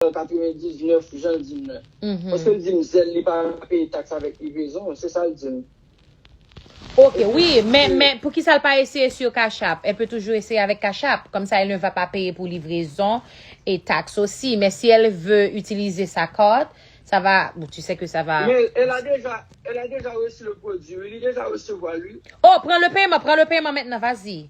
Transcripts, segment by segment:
an 99 jan l di m nan. Paske l di m zèl li pa peye taks avèk livrezon, se sa l di m. Ok wi, men men poukisa l pa eseye sur Cash-App? El peut toujours essayer avec Cash-App, comme ça elle ne va pas payer pour livraison et taxe aussi. Mais si elle veut utiliser sa carte, ça va, bon tu sais que ça va. Men el a deja, el a deja resi le pwodui wi, li deja resevwa l wi. Oh, pran le peman, pran le peman mentnan, vas-y.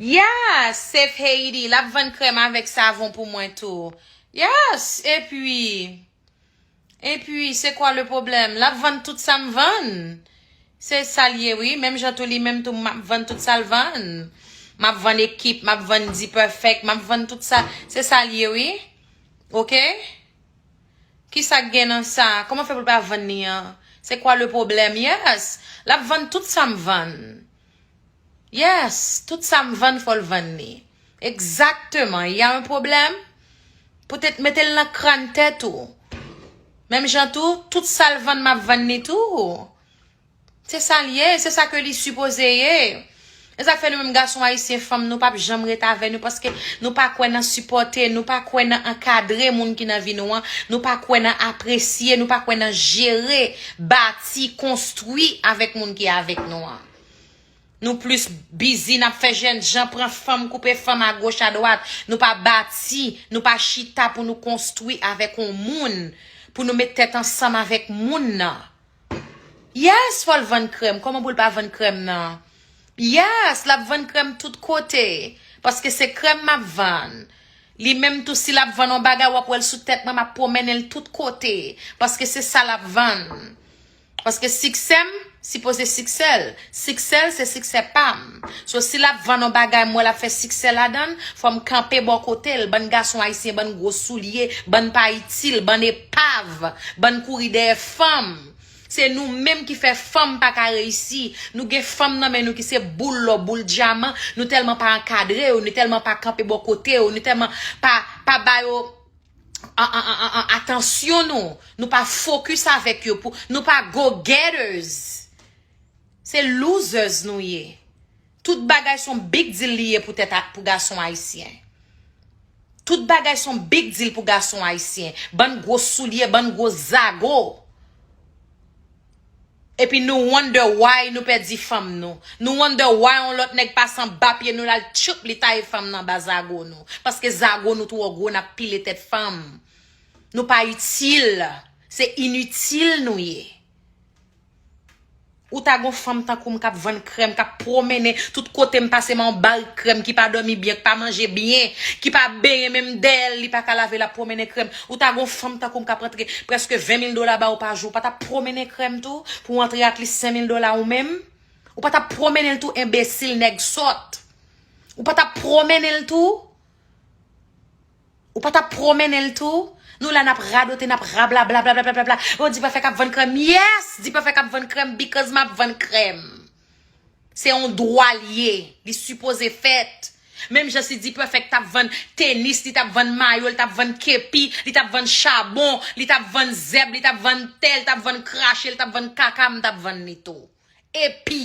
Yes, Safe Haiti, l ap vann krèm avèk savon pou mwen tou. Yes, epi, epi, se kwa le pwoblèm? L ap vann tout sa m vann. Se sa l ye wi, menm jan tou li menm tou m ap vann tout sa l vann. M ap vann ekip, m ap vann Dperfect, m ap vann tout sa, se sa l ye wi. Ok. Kisak gen nan sa? Koman fè pou l pa vann li an? Se kwa le pwoblèm? Yes! L ap vann tout sa m vann. Yes! Tout sa m vann fò l vann li. Egzakteman! Ya un pwoblèm? Poutèt mete l nan krann tèt ou. Menm jan tou, tout sa l vann m ap vann li tou. Se sa l ye, se sa ke li sipoze ye. E sa k fè nou menm gason ayisyen, fanm nou pap janm ret avè nou paske nou pa kwè nan sipòte, nou pa kwè nan ankadre moun ki nan vi nou an, nou pa kwè nan apresye, nou pa kwè nan jere, bati, konstwi avèk moun ki avèk nou an. Nou plis bizi nan fè jènjan, pran fanm, koupe fanm agoch adwat. Nou pa bati, nou pa chita pou nou konstwi avèk yon moun, pou nou met tèt ansanm avèk moun nan. Yes fol vann krem koman poul pa vann krem nan yes lap vann krem tout kote paske se krem map vann li menm tou si lap vann yon bagay wap wèl sou tèt mwen map promenel tout kote paske se sa lap vann paske siksèm sipoze siksèl Siksèl se siksè pam. So si lap vann on bagay m wè lap fè siksè ladann, fòm kanpe bò kotel, bann gason ayisyen bann gwo soulye, bann pa itil, bann epav, bann kouri dèyè fanm. Se nou menm ki fè fanm paka reyisi, nou gen fanm nan men nou ki se boul lò boul dyaman, nou tèlman pa ankadre yo, nou tèlman pa kanpe bò kote yo, nou tèlman pa pa ba yo atansyon nou, nou pa fokis avèk yo pou nou pa go getters. Se losers nou ye. Tout bagay son big deal li ye pou tèt pou gason ayisyen. Tout bagay son big deal pou gason ayisyen. Bann gwo soulye, bann gwo zago. Epi nou wonder why nou pèdi fanm nou. Nou wonder why yon lòt nèg pase anba pye nou lal tchupp li taye fanm nan anba zago nou. Paske zago nou twò gwo nap pile tèt fanm. Nou pa itil. Se initil nou ye. Ou ta gon fanm tankoum kap vann krèm kap pwomennen tout kotem pase m on barik krèm ki pa domi byen ki pa manje byen ki pa benyen menm dèyèl li paka lave lap pwomennen krèm ou ta gon fanm tankoum kap antre preske 20 mil dola baw pa jou ou patap pwomennen krèm tou pou w antre ak li 5 mil dola ou menm ou patap pwomennen l tou enbesil nèg sòt ou patap pwomennen l tou. Ou pa tap promennen l tou? Nou la nap radote, nap rablabla blablabla. Oh Dipèfèk ap vann krèm. Yes! Dipèfèk ap vann krèm because map vann krèm. Se yon dwa l ye. Li sipoze fèt. Menm jan si Dipèfèk tap vann tenis, li tap vann mayo, li tap vann kepi, li tap vann chabon, li tap vann zèb, li tap vann te, li tap vann krache, li tap vann kaka, m tap vann li tou. Epi.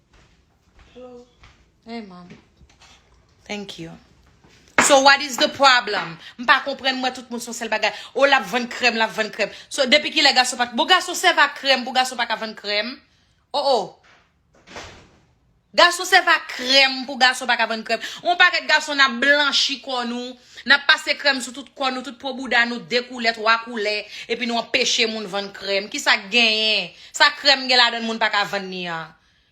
Hey mom. Thank you. So what is the problem? M pa konprann m wè tout moun son sèl bagay. Oh lap vann krèm, lap vann krèm. So depi kilè gason pa Bon gason sèvi ak krèm pou gason pa ka vann krèm? Oh oh. Gason sèvi ak krèm pou gason pa ka vann krèm. On pakèt gason nap blanchi kò nou. Nap pase krèm sou tout kò nou, tout po bouda nou, 2 koulè, 3 koulè, epi nou anpeche moun vann krèm. Kisa k genyen? Sa krèm gen ladann moun pa ka vann li an?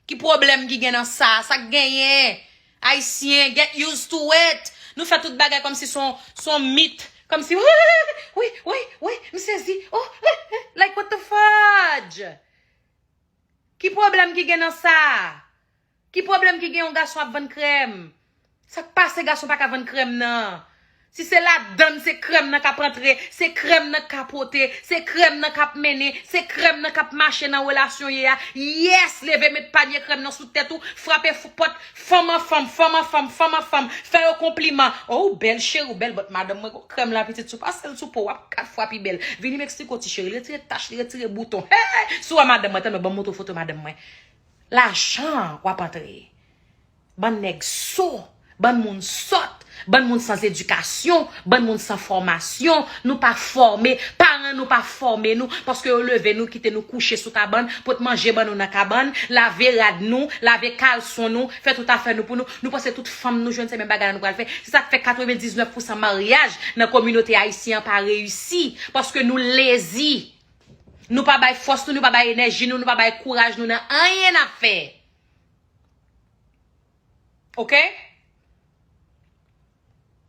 Ki pwoblèm ki gen nan sa? Sa k genyen? Ayisyen, get used to it! Nou fè tout bagay kòmsi s on, s on mit, kòmsi, wi, wi, wi, wi, wi, wi, m sezi, oh, eh, eh, like what the fudge! Ki pwoblèm ki gen nan sa? Ki problem ki gen yon gason ap vann krèm? Sak pase gason paka vann krèm nan? Si se ladann se krèm nan kap antre, se krèm nan ka pote, se krèm nan kap mennen, se krèm nan kap mache nan relasyon ye a, yes leve met panye krèm nan sou tèt ou, frape fou pòt fanm an fanm, fanm an fanm, fanm an fanm, fè yo konpliman, oh ou bèl cheri ou bèl but madanm mwen gon krèm la pitit si ou pasel sou po wap 4 fwa pi bèl, vini m eksplike w ti cheri li retire tach li retire bouton hey sou a madanm mwen, tanmen banm montre w foto madanm mwen. Lajan wap antre. Bann nèg so, bann moun sòt, bann moun san zedikasyon, bann moun san fòmasyon, nou pa fòme, paran nou pa fòme nou, paske yo leve nou kite nou kouche sou kabann, pot manje ban nou nan kabann, lave rad nou, lave kalson nou, fè tout afè nou pou nou, nou panse tout fanm nou jwenn se menm bagay la nou pral fè, se sak fè 99 pousan maryaj nan kominote ayisyen an pa reyisi, paske nou lezi. Nou pa bay fòs nou, nou pa bay enèji nou, nou pa bay kouraj nou nan anyen n ap fè. Ok?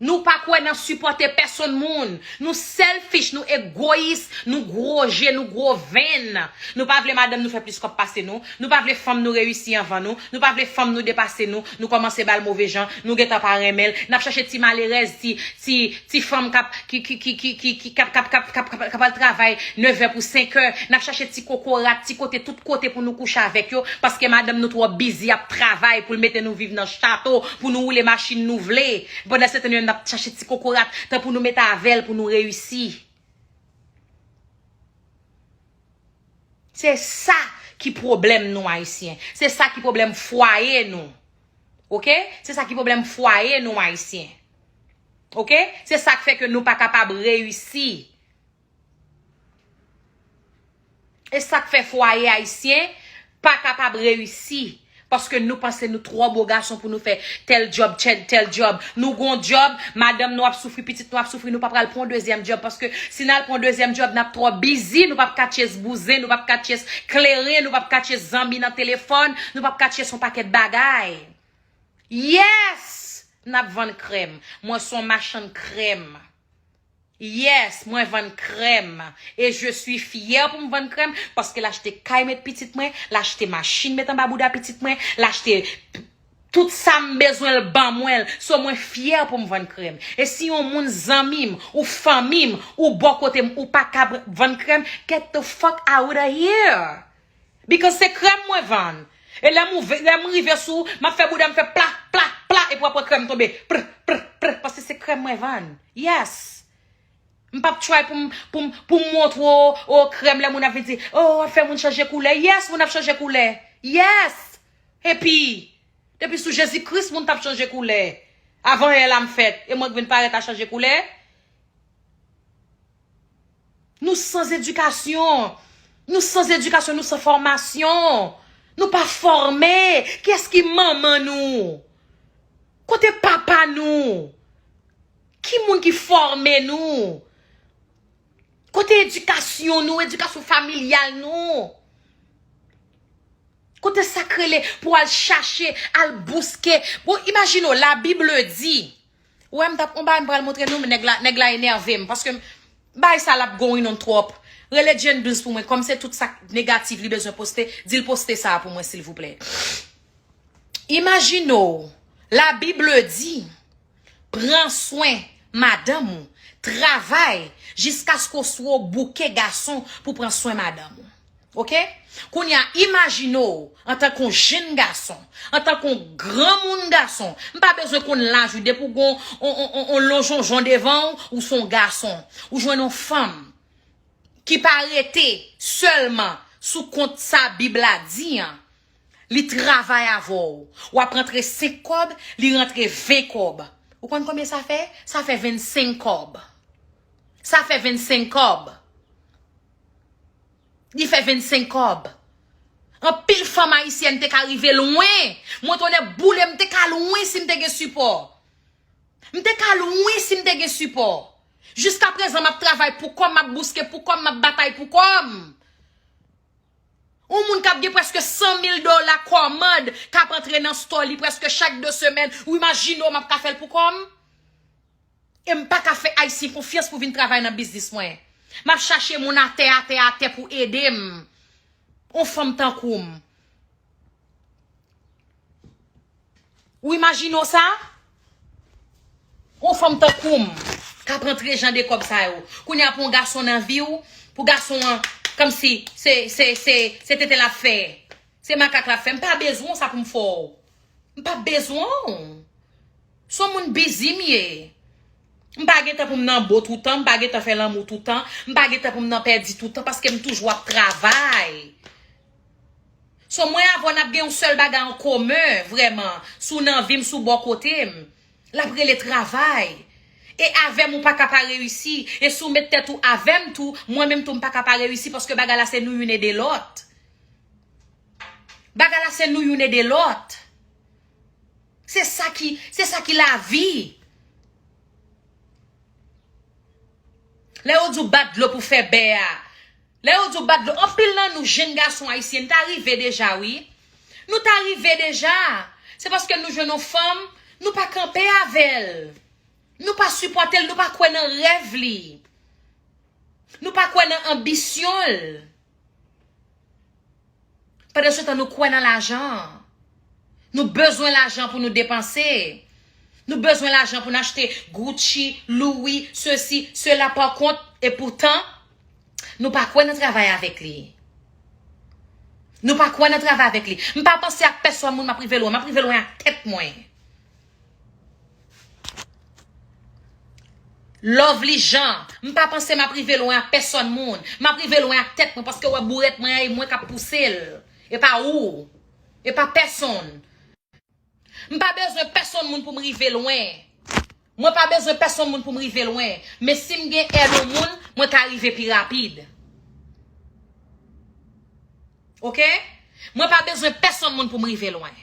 Nou pa kwè nan sipòte pèsonn moun. Nou selfish, nou egoyis, nou gwo je, nou gwo venn. Nou pa vle madanm nou fè plis kòb pase nou. Nou pa vle fanm nou reyisi anvan nou, nou pa vle fanm nou depase nou, nou kòmanse ba l move jan, nou gentan pa renmen l, n ap chache ti malerèz, ti, ti, ti fanm k ap, ki, ki, ki, ki, ki, ki, k ap, k ap, k ap, k ap, k ap al travay nevè pou senkè, n ap chache ti kokorat, ti kote, tout kote pou nou kouche avèk yo, paske madanm nou twò bizi ap travay pou l mete nou viv nan chato, pou nou woule machin nou vle, pandansetan nou menm n ap chache ti kokorat, tan pou nou met avè l pou nou reyisi. Se sa ki pwoblèm nou ayisyen. Se sa ki pwoblèm fwaye nou. Ok? Se sa ki pwoblèm fwaye nou ayisyen. Ok? Se sa k fè ke nou pa kapab reyisi. E sa k fè fwaye ayisyen. pa kapab reyisi paske nou panse nou twò bo gason pou nou fè tèl djòb tchèd tèl djòb nou gon djòb madanm nou ap soufri pitit nou ap soufri nou pa pral pran yon dezyèm djòb paske si nal pran yon dezyèm djòb nap twò bizi nou pap ka tchyes bouzen nou pap ka tchyes kleren nou pap ka tchyes zanmi nan telefòn nou pap ka tchyes yon pakèt bagay yes nap vann krèm mwen son machann krèm. Yes mwen vann krèm e je suis fyè pou m vann krèm paske l achte kay met pitit mwen l achte machin met anba bouda pitit mwen l achte tout sa m bezwen l ban mwen l so mwen fyè pou m vann krèm e si yon moun zanmi m ou fanmi m ou bò kote m ou pa kab vann krèm get the fuck out of here. Because se krèm mwen vann. E lè m ouve, lè m rive sou ou, m ap fè bouda m fè pla, pla, pla epi w ap wè krèm tonbe prr, prr, prr paske se krèm mwen vann. Yes! M p ap try pou m, pou m, pou m montre w o krèm lè moun ap vin di o w ap fè moun chanje koulè. Yes moun ap chanje koulè. Yes! Epi depi sou Jezikris moun t ap chanje koulè avan è la m fèt e mwen k vin parèt a chanje koulè? Nou sans edikasyon. Nou sans edikasyon, nou san fòmasyon. Nou pa fòme. Kiyès ki manman nou? Kote papa nou? Ki moun ki fòme nou? Kote edikasyon nou, edikasyon familyal nou? Kote sa k rele pou al chache, al bouske. Bon, imajine w, la Bible di, Ou wèm tap on bagay m pral montre nou nèg la nèg la enèvem paske bagay sa lap going on twòp rele Gendouns pou mwen kòm se tout sak negatif li bezwen poste dil poste sa pou mwen silvouplè Imajine w la bible di pran swen madanm ou travay jiskaske w sou w bouke gason pou pran swen madanm ou. Ok Kounye a imajine w antan k on jenn gason, antan k on granmoun gason, m pa bezwen konn laj ou depi w gen on on lonjonjon devan w, ou s on gason. Ou jwenn on fanm ki pa rete sèlman sou kont sa Bib la di an, li travay avè w. W ap rantre senk kòb, li rantre ven kòb. Ou konn konbyen sa fè? Sa fè vennsenk kòb. Sa fè vennsenk kòb. Li fè 25 kòb. Anpil fanm ayisyèn te ka rive lwen. Mwen tonnè boule m te ka lwen si m te gen sipò. M te ka lwen si m te gen sipò. Jiskaprezan m ap travay pou kò m, m ap bouske pou kò m, m ap batay pou kò m. Yon moun k ap gen prèske 100 mil dola kòmand k ap antre nan stò li prèske chak 2 semèn, ou imajine w m ap ka fè l pou kò m? E m pa ka fè Ayisyen konfyans pou vin travay nan biznis mwen. M ap chache moun atè atè atè pou ede m. Yon fanm tankou m. Ou imajine w sa? Yon fanm tankou m k ap rantre jan de kòb sa yo. Kounye a pou yon gason nan vi w, pou gason an kòmsi se, se, se, se tete l ap fè. Se makak l ap fè. M pa bezwen w sa pou m fè w. M pa bezwen w. Son moun busy m ye. M pa gen tan pou m nan bo toutan, m pa gen tan fè lanmou toutan, m pa gen tan pou m nan pèdi toutan paske m toujou ap travay. So mwen avè w n ap gen yon sèl bagay an komen vrèman, si w nan vi m, si w bò kote m. L ap rele travay. E avè m ou pa ka pa reyisi. E si w met tèt ou avè m tou, mwen menm tou m pa ka pa reyisi paske bagay la se nou youn ede lòt. Bagay la se nou youn ede lòt. Se sa ki, se sa ki lavi. Lè yo di w bat dlo pou fè bè a, lè yo di w bat dlo, anpil nan nou jenn gason ayisyen, n ta rive deja wi. Nou ta rive deja. Se paske nou jwenn yon fanm, nou pa kanpe avè l. Nou pa sipòte l, nou pa kwè nan rèv li. Nou pa kwè nan anbisyon l. Pandan se tan nou kwè nan lajan. Nou bezwen lajan pou nou depanse. Nou bezwen lajan pou nou achte Gucci, Louis, sesi, sela pa kont. E poutan, nou pa kwè nan travay avèk li. Nou pa kwè nan travay avèk li. M pa panse ak pèsòn moun m ap rive lwen. M ap rive lwen ak tèt mwen. Lovely Jean M pa panse map rive lwen ak pèsòn moun Map rive lwen ak tèt mwen paske wè bourèt mwen an e mwen kap pouse l e pa ou e pa pèsonn M pa bezwen pèsonn moun pou m rive lwen Mwen pa bezwen pèsonn moun pou m rive lwen Men si m gen èd yon moun mwen ka rive pi rapid. Ok mwen pa bezwen pèsonn moun pou m rive lwen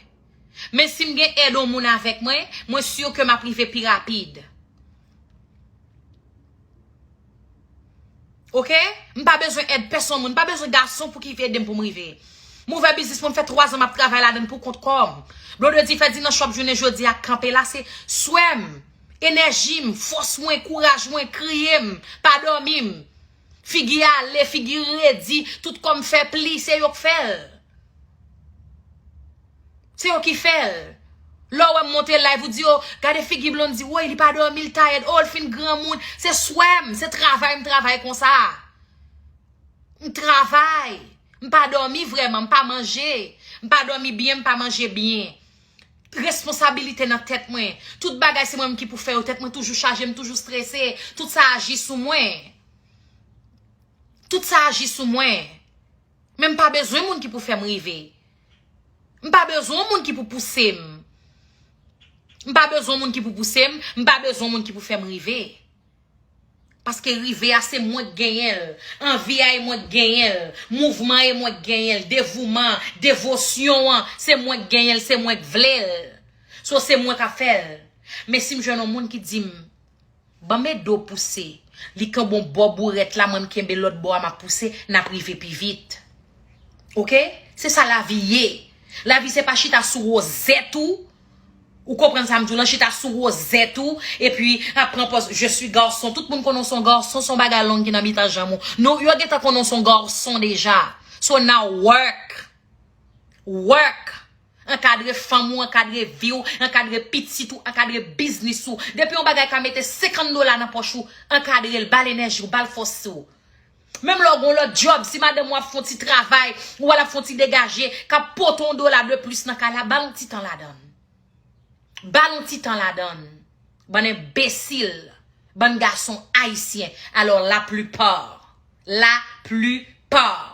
men si m gen èd yon moun avèk mwen mwen sur ke m ap rive pi rapid ok m pa bezwen èd pèsonn moun m pa bezwen gason pou ki ede m pou m rive m ouvè biznis mwen fè 3 zan m ap travay la dann pou kont kòm blondedy fè dinan chòp jounen jodi a kanpe la se swè m enèji m fòs mwen kouraj mwen kriye m pa dòmi m. Figi ale figi redi tout kòm fè pli se yo k fèl se yo ki fèl lè w wè m monte live ou di yo gade figi Blondy woy li pa dòmi l tayèd oo l fin granmoun se swè m se travay m travay konsa m travay m pa dòmi vrèman m pa manje m pa dòmi byen m pa manje byen Responsabilite nan tèt mwen Tout bagay se mwen menm ki pou fè yo Tèt mwen toujou chaje, m toujou strese Tout sa aji sou mwen Tout sa aji sou mwen Men m pa bezwen moun ki pou fè m rive M pa bezwen moun ki pou pouse m M pa bezwen moun ki pou pouse m M pa bezwen moun ki pou fè m rive Paske rive a se mwen k genyen l, anvi a e mwen k genyen l, mouvman an e mwen k genyen l, devouman an, devosyon an, se mwen k genyen l, se mwen k vle l. So se mwen k ap fè l. Men si m jwenn yon moun ki di m, ban m ede w pouse, li kenbe yon bò bourèt la mwen m kenbe lòt bò a m ap pouse, n ap rive pi vit. Ok? Se sa lavi ye. Lavi se pa chita sou wozèt ou. Ou konprann sa m di w lan, chita sou wozèt ou, epi ap pran pòz je sui garson. Tout moun konnen w se yon garson, se yon bagay long ki nan mitan janm ou. Nou, yo gentan konnen w se yon garson deja. So now work! Work! Ankadre fanm ou, ankadre vi w, ankadre pitit ou, ankadre biznis ou. Depi yon bagay ka mete 50 dola nan pòch ou, ankadre l, ba l enèji w, ba l fòs ou. Menm lè w gen yon lòt djòb, si madanm ou ap fè yon ti travay, ou wè l ap fè yon ti degaje, k ap pote yon dola de plis nan kay la, ba l yon ti tan ladan l. Ba l yon ti tan ladan l. Bann enbesil. Bann gason ayisyen. Alò la plupart. La plupart.